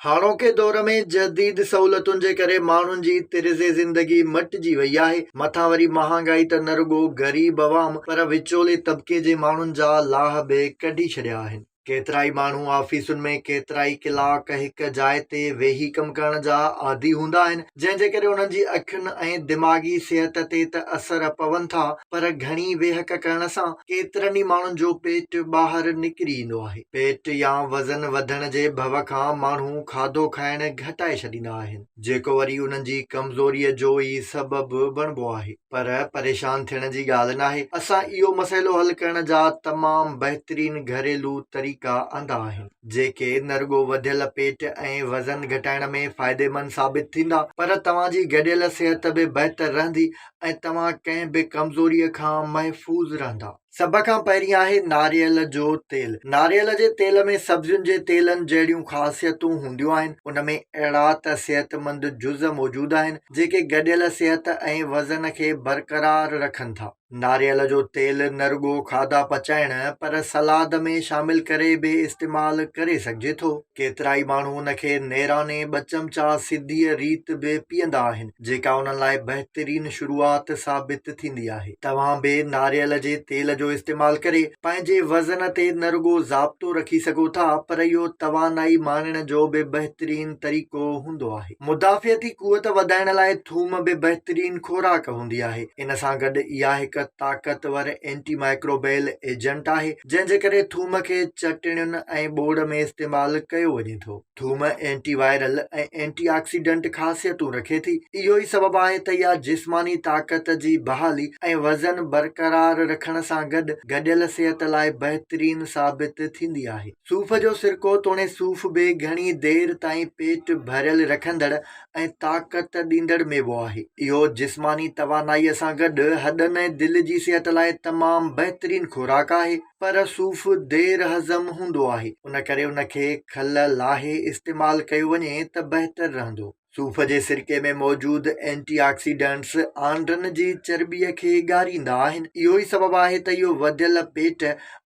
هاڻوڪي دور ۾ جديد سهولتن جي ڪري ماڻهن جي طرز زندگي مٽجي وئي آهي، مٿان وري مهانگائي ته نه رڳو غريب عوام پر وچولي طبقي جي ماڻهن جا لاهه به ڪڍي ڇڏيا آهن. ڪيترائي ماڻهو آفيسن ۾ ڪيترائي ڪلاڪ هڪ جاء تي ويهي ڪم ڪرڻ جا عادي هوندا آهن، جنهن جي ڪري انهن جي اکين ۽ دماغي صحت تي ته اثر پون ٿا پر گهڻي ويهڪ ڪرڻ سان ڪيترن ئي ماڻهن جو پيٽ ٻاهر نڪري ايندو آهي. پيٽ يا وزن وڌڻ جي ڀو کان ماڻهو کاڌو کائڻ گهٽائي ڇڏيندا آهن جيڪو وري انهن جي ڪمزوري جو ئي سبب بڻبو آهي پر پريشان ٿيڻ جي ڳالهه ناهي اسان اهو مسئلو حل ڪرڻ جا تمام بهترين گهريلو طريقا آندا آهن. جيڪي نه رڳو وڌيل پيٽ ۽ وزن گهٽائڻ ۾ فائديمند ثابت ٿيندا پر توهان جي گڏيل صحت به بهتر رهندي ۽ توهان ڪنهن به ڪمزوريء کان محفوظ رهندا. سڀ کان پهرين آهي ناريل جو تيل. ناريل جي تيل ۾ سبزين جي تيلن جهڙيون خاصيتون هونديون آهن. ان ۾ اهڙا ته صحتمند جز موجود آهن، جيڪي گڏيل صحت ۽ وزن کي برقرار رکن ٿا. ناريل جو تيل نه رڳو کاڌا پچائڻ پر سلاد ۾ شامل ڪري به استعمال ڪري سگهجي ٿو. ڪيترائي ماڻهو ان کي نيراني ٻه چمچا سڌيء ريت به پيئندا آهن، جيڪا انهن لاء بهترين شروعات ثابت ٿيندي آهي. توهان به ناريل جي تيل جو استعمال ڪري پنهنجي وزن تي نه رڳو ضابطو رکي سگهو ٿا پر اهو توانائي ماڻڻ جو به بهترين طريقو هوندو آهي. مدافعتي قوت وڌائڻ لاء ٿوم به بهترين خوراڪ هوندي آهي. ان سان گڏ اها هڪ طاقتور اينٽي مائڪروبيل ايجنٽ آهي، جنهن جي ڪري ٿوم کي چٽڻين ۽ ٻوڙ ۾ استعمال ڪيو وڃي ٿو. ٿوم اينٽي وائرل ۽ اينٽي آڪسيڊنٽ خاصيتون رکي ٿي. اهو ئي سبب آهي ته اها جسماني طاقت جي بحالي ۽ وزن برقرار رکڻ سان گڏ گڏيل صحت لاء بهترين ثابت ٿيندي آهي. صوف جو سرڪو توڻي صوف به گهڻي دير تائين پيٽ ڀريل رکندڙ ۽ طاقت ڏيندڙ ميوو آهي. اهو جسماني توانائيء سان گڏ هڏن ۽ دل جي صحت لاء تمام بهترين خوراڪ آهي. پر صوف دير هضم هوندو آهي، ان ڪري ان کي کل لاهي استعمال ڪيو وڃي ته بهتر رهندو. صوف جي سرڪي ۾ موجود اينٽي آڪسيڊنٽس آنڊن جي چرٻيء کي ڳاريندا آهن اهو ئي سبب آهي ته اهو وڌيل پيٽ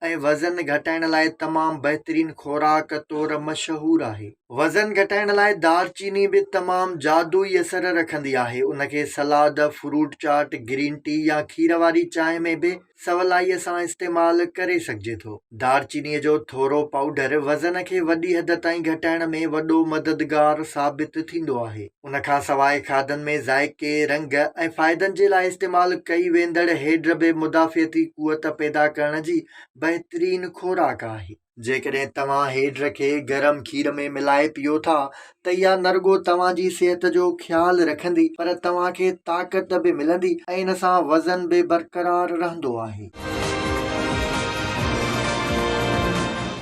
۽ وزن گهٽائڻ لاء تمام بهترين خوراڪ طور مشهور آهي وزن گهٽائڻ لاء دار چيني به تمام جادوئي اثر رکندي آهي ان کي salad fruit chaat green tea يا کير واري چانهه ۾ به سولائيء سان استعمال ڪري سگهجي ٿو. دار چينيء جو ٿورو پائوڊر وزن کي وڏي حد تائين گهٽائڻ ۾ وڏو مددگار ثابت ٿيندو آهي. ان کان سواء کاڌن ۾ ذائقي، رنگ ۽ فائدن جي لاء استعمال ڪئي ويندڙ هيڊ به مدافعتي قوت پيدا ڪرڻ جي بهترين خوراڪ آهي. جيڪڏهن توهان هيڊر کي گرم کير ۾ ملائي پيئو ٿا ته اها نه رڳو توهان جي صحت جو خيال رکندي پر توهان کي طاقت به ملندي ۽ ان سان وزن به برقرار رهندو آهي.